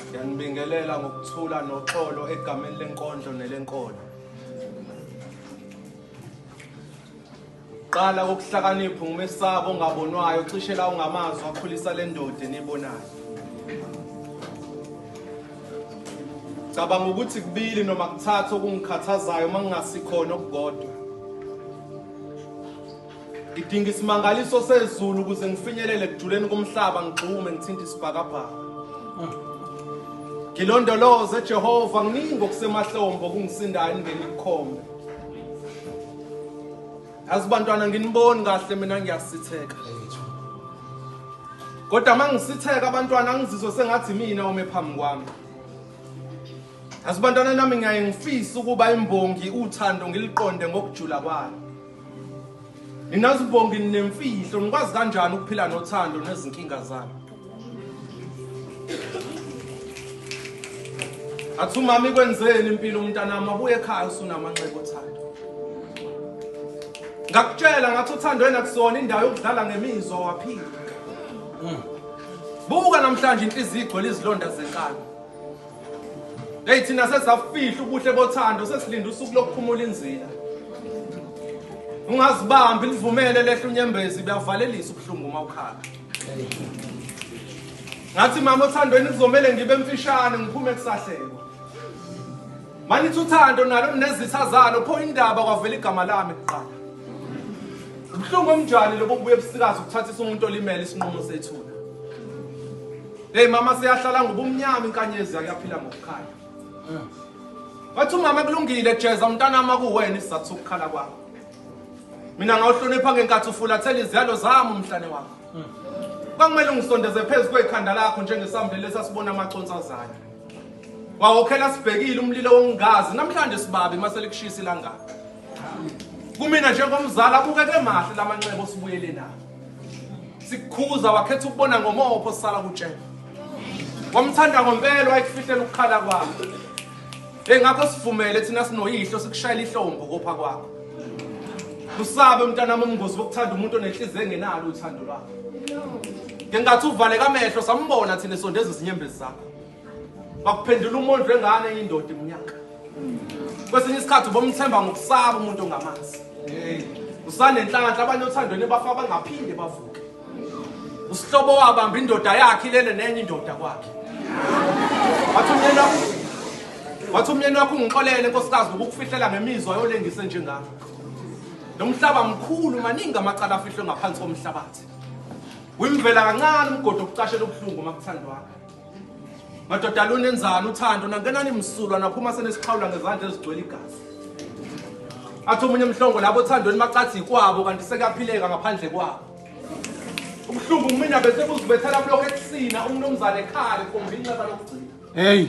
Ngiyanibingelela ngokuthula noxolo egameni lenkondlo nelenkolo. Qala ukuhlakanipha ngumesaba ongabonwayo cishe la ungamazwi akhulisa lendoda enibonayo. Cabanga ukuthi kubili noma kuthathu okungikhathazayo uma ngingasikhona okukodwa. Ngidinga isimangaliso sezulu ukuze ngifinyelele ekujuleni komhlaba ngigxume ngithinta isibhakabhaka. Ngilondoloze Jehova nginingi okusemahlombo kungisindayo ngene ikhombe. Yazi bantwana nginiboni kahle mina ngiyasitheka. Kodwa mangisitheka abantwana ngizizwe sengathi mina ume phambi kwami. Yazi bantwana nami ngiyaye ngifisa ukuba imbongi uthando ngiliqonde ngokujula kwayo. Ninazibongi nemfihlo nikwazi kanjani ukuphila nothando nezinkinga zami. Athu mami kwenzeni impilo umntanami abuye ekhaya usunamanxeba othando. Ngakutshela ngathi uthando wena kusona indawo yokudlala ngemizwa waphila. Mm. Buka namhlanje inhliziyo igcwele izilonda zenkani. Hey thina sesafihla ubuhle bothando sesilinda usuku lokuphumula inzila. Ungazibambi livumele lehla unyembezi buyavalelisa ubuhlungu uma ukhala. Ngathi mama othandweni kuzomele ngibe mfishane ngiphume kusahleko. Manithi uthando nalo nezitha zalo pho indaba kwavela igama lami kuqala. Ubuhlungu omjani lobo buye busikazi ukuthathisa umuntu olimele isinqumo sethuna. Hey mama siyahlala ngubumnyama inkanyezi yakuyaphila ngokukhanya. Wathi umama kulungile jeza umntana ama kuwena isizathu sokukhala kwakho. Mina ngawuhlonipha ngenkathi ufulathela iziyalo zami umhlane wakho. Kwakumele ungisondeze phezu kwekhanda lakho njengesambile lesasibona amaconsi azayo. Wawokhela sibhekile umlilo wongazi namhlanje sibabe maselikushisa ilangaka. kumina njengomzali abukeke mahle la manxeba osibuyele nawo sikukhuza wakhetha ukubona ngomopho sisala kutshela wamthanda ngompelo wayekufihlela ukukhala kwakho engakho sivumele thina sinoyihlo sikushayela ihlombo kopha kwakho usabe mntanami umngozi wokuthanda umuntu onenhliziyo engenalo uthando lwakho ngengathi uvaleka amehlo sambona thina esondeza izinyembezi zakho bakuphendula umondlo engane yindoda iminyaka kwesinye isikhathi ubomthemba ngokusaba umuntu ongamazi usanenhlanhla abanye othandweni bafa bangaphinde bavuke usihlobo wabamba indoda yakhe ilele nenye indoda kwakhe wathi umyeni wakho wathi umyeni wakho ungixolele nkosikazi ukukufihlela ngemizwa yolengise njengakho lo mhlaba mkhulu maningi amacala afihlwe ngaphansi komhlabathi wimvela kancane umgodi okucashela ubuhlungu uma kuthandwakho madoda lunenzani uthando nangenani msulwa naphuma senesixhawula ngezandla ezigcwele igazi athi omunye mhlongo labo othandweni bacathi yikwabo kanti sekuyaphileka ngaphandle kwabo ubuhlungu kumina bese kuzibethela kulokho ekusina umnumzane ekhale komba inxeba lokugcina heyi